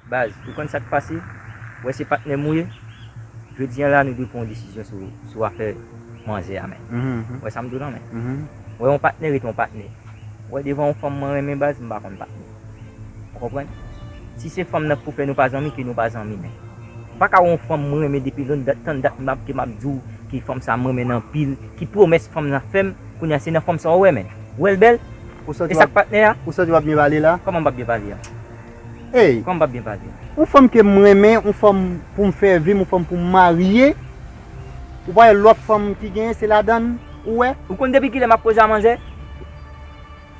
Baz, ou konn sa k pase? Ou wè se patnè m ou ye? Jodi an la nou dwe pran yon desizyon sou afè manzè a men. Ou wè sa m di w lan men. Ou wè yon patnè rete yon patnè. Ou wè devan yon fanm mwen renmen baz m pa konn patnè. Ou konprann? Si se fanm nan k pou fè nou pa zanmi ke nou pa zanmi men. M pa ka wè yon fanm mwen renmen depi lonn dat tann dat ke m ap di w ke fanm sa m renmen l anpil, ki pwomès fanm nan fè m, kounye a se nan fanm sa ou wè men. Ou wè l bèl? E sa k patnè a? Ou santi w ap byen pale la? Kòman m p ap byen pale a? Hey Kòm pap byen pase. Yon fanm kem renmen yon fanm poum fè vim yon fanm poum marye ou pa wè lòt fanm ki genyen se ladann ou wè. Ou konn depi kilè map poze a manzè?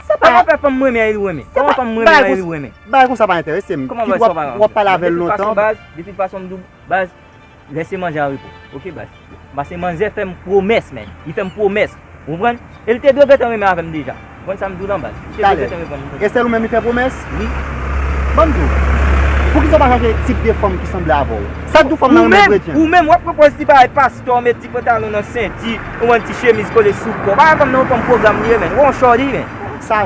Sa pa yon fanm mrenmen an e li renmen. Koman fanm mrenmen an e li renmen. Bagay konsa pa entèresem. Kit wap pale avèl lontan. Depi l pa son baz, depi l pa son mdou baz. Lese manzè an repo ok baz. Pase manzè fem promes men. Li fem promes. Ou konprann? E li te dwe gentan renmen avem deja. Ou konprann sam diw lan baz. Li te dwe gentan reponn m. Esel ou menm li fe promes? Wi. Banm diw. Poukisa ou pa chache tip de fanm ki sanble avew? Sa k diw fanm nan renmen kretyen? Ou menm wap pwopoz ti bagay pastò met ti pantalon nan senti. Ou konprann ti chemiz kole sou kò. Bagay fanm nan ou konprann program li ye men. Ou on shorty men. Sa.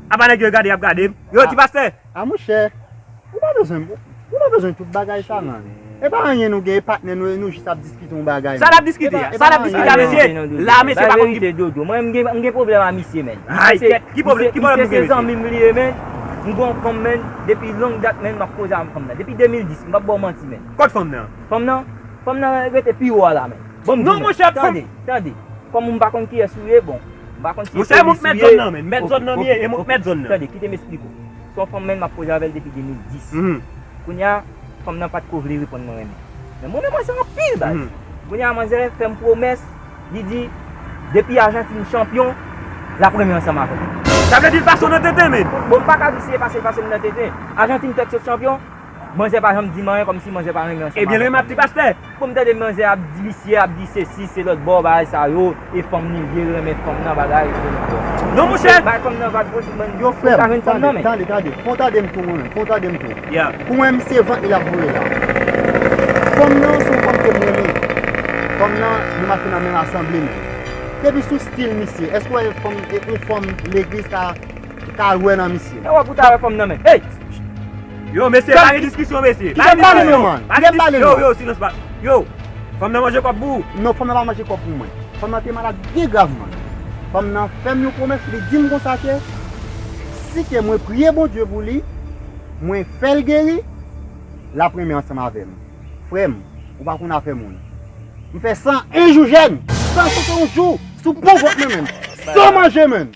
Apa nèg yo gade yap gadem yo ti pastè. A monchè ou pa bezwen ou pa bezwen tout bagay sa nan. Epa anyen nou gen e patnè nou e nou jis ap diskite yon bagay man. Sa nap diskite a? Sa nap diskite a mesye? La mesye pa konn ki. Bay verite dodo mwen m gen pwoblèm a misye men. Ay kèt ki pwoblèm ki pwoblèm nou gen mesye. Misye se zanmim li ye men m gon yon fanm men depi long dat men map koze avèk fanm nan depi 2010 m pap baw manti men. Kot fanm nan? Fanm nan? Fanm nan rete pi wo a la men. Bon m di nou. Non monchè fanm. Tande tande. Kom m pa konn kiyès ou ye bon. M pa konn si se polis ou ye. Mwen se mèt zòn nan men. Mwen mèt zòn nan. Tande, kite m esplik ou. Se yon fanm menn m ap koze avè l depi 2010. Kounye a, fanm nan pa t ko vle reponn mwen renmen. Men m renmen manzè anpil baz. Kounye a manzè fè m pwomès, li di, depi Ajantin chanpyon, l ap renmen ansanm avè m. Sa vle di l pase w nan tenten menn? Bon, m pa ka di si e pase l pase m nan tenten. Ajantin fèk sot chanpyon. Manzè pa janm dim anyen kòmsi manzè pa renmen ansanm avèk Ebyen lè map di pastè poum tande manzè ap di visye ap di sesi se lòt bon bagay sa yo e fanm li vye renmen fanm nan bagay e konn fè non monchè bay fanm nan vag bouch bann yo frèm tande tande tande tande fon tadem tou mwen menm fon tadem tou pou mwen menm se vant li lap voye la fanm nan son fanm kem renmen fanm nan nou mache nan menm asanble menm depi sou stil misye eske ou wè yon fanm legliz ka Ka lwe nan misye. Ewa pou ta we fanm nan men. Hey! Yo mesye pa gen diskisyon mesye. Kite m pale non man. Kite m pale non. Yo yo silans pa. Yo! Fanm nan manje kob pou ou. Non fanm nan pa manje kob pou mwen. Fanm nan te malad byen grav man. Fanm nan fem yon pwomes li dim konsa ke si ke mwen priye Bondye pou li, mwen fel geri, lap renmen ansanm avem. Frem, ou pa konn afe moun. M fe 101 jou jèn. 101 jou sou bon vant mwen menm. San manje menm.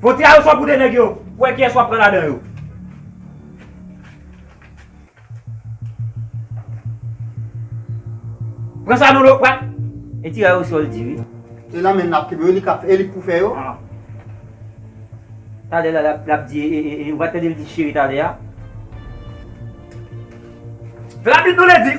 Bon tira yo swa goude nèg yo pou wè kiyès wap pran ladan yo. Pran sa non lo pran. E tira yo sol di wi. E nan menl lap kenbe yo li kap e li k pou fè yo. Talè la lap di e e e ou pa tande l di cheri talè a. Rapid nou le di.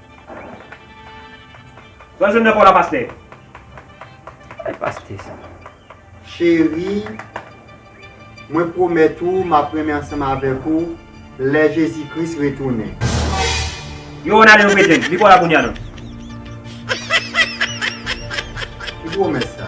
Sa w jwenn nan kò w la pastè? Kòlè pastè sa. Cheri, mwen pwomèt ou m ap renmen ansanm avèk ou lè Jezi Kris retounen. Yo wè w nan ale yon kretyenn. Li kò w la kounye a non. Ki pwomès sa?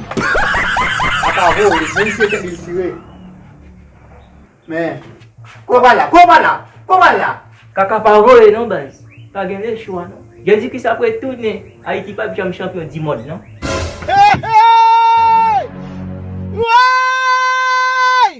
Apa vre wi, moun se tèt li chire. Men. Kò pa la, kò pa la, kò pa la. Kaka pa vole non baz. Pa gen le chwa non. Jezikris ap retounen. Ayiti pap janm chanpyon di mond non. Hey! Hey! Woyy!